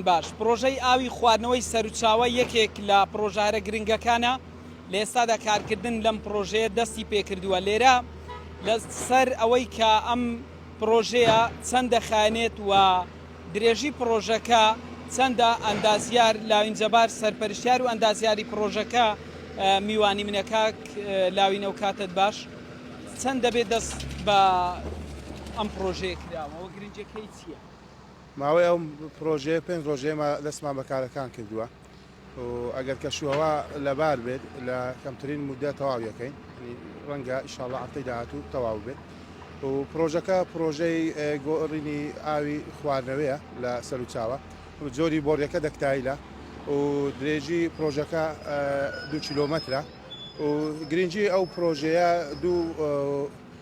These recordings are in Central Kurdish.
باش، پڕۆژەی ئاوی خواردنەوەی سەروچاوە یەکێک لە پڕۆژە هەرە گرنگەکانە، لە ئێستادا کارکردن لەم پڕۆژەیە دەستی پێکردووە، لێرە لە سەر ئەوەی کە ئەم پڕۆژەیە چەند دەخایەنێت و درێژی پڕۆژەکە چەندە، ئەندازیار لاوین جەبار سەرپەرشتیار و ئەندازیاری پڕۆژەکە میوانی منە، کاک لاوین ئەو کاتەت باش چەند دەبێت دەست بە ئەم پڕۆژەیە کراوە و گرنجەکەی چییە؟ ماوەی ئەو پرۆژەیە پێنج رۆژ ئێمە دەستمان بە کارەکان کردووە و ئەگەر کەشوهەوا لەبار بێت لە کەمترین مودە تەواو یەکەین ڕەنگە ئیشاڵە هەفتەی داهاتوو تەواو بێت و پرۆژەکە پرۆژەی گۆڕینی ئاوی خواردنەوەیە لە سەروچاوە جۆری بۆڕیەکە دەکتایلە و درێژی پرۆژەکە دو کیلۆمەترە و گرنگی ئەو پرۆژەیە دوو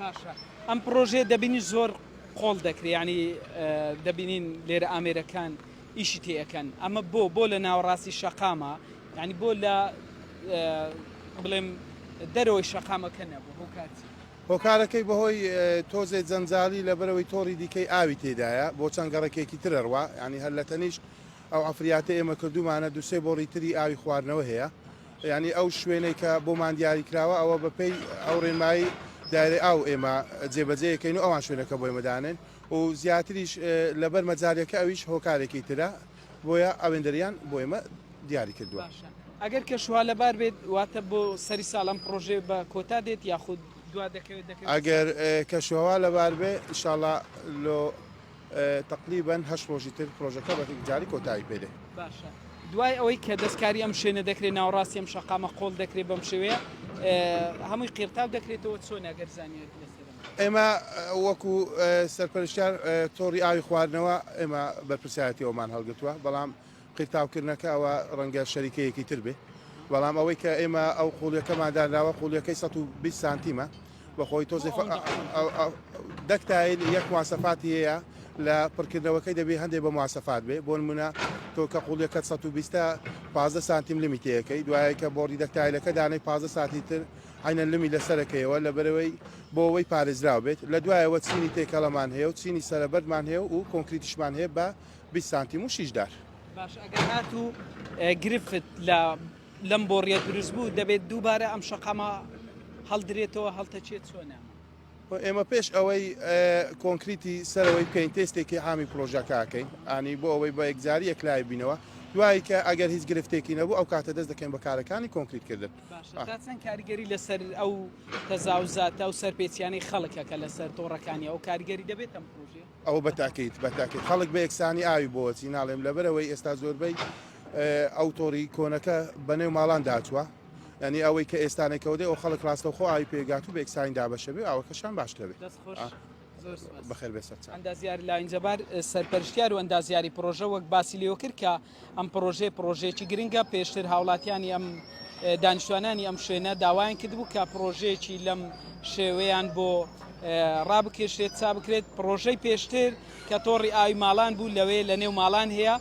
باشە ئەم پرۆژەیە دەبینی زۆر قۆڵ دەکرێ یانی دەبینین لێرە ئامێرەکان ئیشی تێەکەن ئەمە بۆ بۆ لە ناوەڕاستی شەقامە ینی بۆ لە بڵێم دەرەوەی شەقامەکە نەبوو هۆکارچی هۆکارەکەی بەهۆی تۆزێ جەنجالی لە بەرەوەی تۆڕی دیکەی ئاوی تێدایە بۆ چەند گەڕەکێکی ترەڕوا ینی هەر لە تەنیشت ئەو ئەفریاتە ئێمە کردومانە دوسێ بۆ ڕیتری ئاوی خواردنەوە هەیە یانی ئەو شوێنەی کە بۆمان دیاری کراوە ئەوە بە پێی ئەو ڕێنمایی دایرەی ئاو ئێمە جێبەجێ یەکەین و ئەوان شوێنەکە بۆ ئێمە دانێن و زیاتریش لەبەر مەجاریەکە ئەویش هۆکارێکی ترە بۆیە ئەوێندەریان بۆ ئێمە دیاری کردووە. ئەگەر کەشوها لەبار بێت واتە بۆ سەری ساڵ ئەم پڕۆژێ بە کۆتا دێت یاخود دوا دەکەوێت دەکەوێت ئەگەر کەشوهەوا لەبار بێ ئیشاڵا لۆ تەقریبەن هەشت ڕۆژی تر پرۆژەکە بە یەکجاری کۆتایی پێ دێ. باشە دوای ئەوەی کە دەستکاری ئەم شوێنە دەکرێت ناوەڕاستی ئەم شەقامە قۆڵ دەکرێت بەم شێوەیە هەمووی قیرتاو دەکرێتەوە چۆن ئەگەر زانیاری لەسەر ئێمە وەکو سەرپەرشتیار تۆڕی ئاوی خواردنەوە ئێمە بەرپرسایەتی ئەومان هەڵگرتووە بەڵام قیرتاوکردنەکە ئەوا ڕەنگە شەریکەیەکی تر بێت، بەڵام ئەوەی کە ئێمە ئەو قوڵیەکەمان دانراوە قوڵیەکەی سەد و بیست سانتیمە بە خۆی تۆزێ فە ئە دەک تایل یەک مواسەفاتی هەیە لە پڕکردنەوەکەی دەبێ هەندێ بە مواسەفات بێ بۆ نمونە تۆ کە قوڵیەکەت سەد و بیستە پازدە سانتیم لمی تێیەکەی دوایە کە بۆڕی دەک تایلەکە دانەی پازدە سانتی تر عینەن لمی لە سەرەکەیەوە لە بەرەوەی بۆ ئەوەی پارێزراو بێت لە دوایەوە چینی تێکەڵەمان هەیە و چینی سەرەبەردمان هەیە و کۆنکریتیشمان هەیە بە بیست سانتیم و شیش دار. باش ئەگەر هاتوو گرفت لە لەم بۆڕیە دروست بوو دەبێت دووبارە ئەم شەقامە هەڵدرێتەوە هەڵتەچێت چۆنە ئێمە پێش ئەوەی کۆنکریتی سەرەوەی بکەین تێستێکی حامی پرۆژەکەکەین ئانی بۆ ئەوەی بە یەکجاری یەکلای بینەوە دوایی کە ئەگەر هیچ گرفتێکی نەبوو ئەو کاتە دەست دەکەین بە کارەکانی کۆنکریتکردن چەند کاریگەری لەسەر ئەو تەزاوزاتە و سەرپێچیانی خەڵکەکە لەسەر تۆڕەکانی ئەو کاریگەری دەبێتم پرۆژێ ئەوە بە تاکید بە تاکید خەڵک بە یەکسانی ئاوی بۆچی ناڵێم لەبەرەوەی ئێستا زۆربەی ئەو تۆڕی کۆنەکە بەنێو ماڵان داچوە ینی ئەوەی کە ئێستانێکەوەدەی ئەو خەڵک ڕاستەوخۆ ئاوی پێگات و بێکسانی دابەشەبێ ئەوەکەشان باشکەوێت بەخێر بێ سەرچ ئەندازیار لاینجەبار سەرپەرشتیار و ئەندازیاری پرۆژە وەک باسی لێوەکرد کە ئەم پرۆژەیە پرۆژەیەکی گرنگە پێشتر هاوڵاتیانی ئەم دانیشتوانانی ئەم شوێنە داوایان کردبوو کە پرۆژەیەکی لەم شێوەیان بۆ ڕابکێشێت چا بکرێت پرۆژەی پێشتر کە تۆڕی ئاوی ماڵان بوو لەوێ لە نێو ماڵان هەیە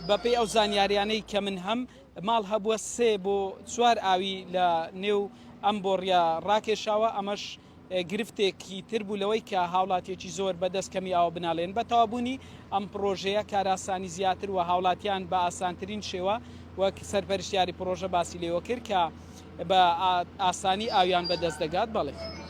بەپی ئەو زانیاریانەی کە من هەم ماڵ هەبووە سێ بۆ چوار ئاوی لە نێو ئەم بۆڕە ڕاکێشاوە ئەمەش گرفتێکی تر بوو لەوەی کە هاوڵاتیەکی زۆر بە دەست کەمی ئاو بناڵێن. بە تەوابوونی ئەم پڕۆژەیە کارئاسانی زیاتر و هاوڵاتیان بە ئاسانترین شێوە وەک سەرپەرشتیاری پڕۆژە باسی لێوە کرد کە بە ئاسانی ئاویان بە دەست دەگات. بەڵی.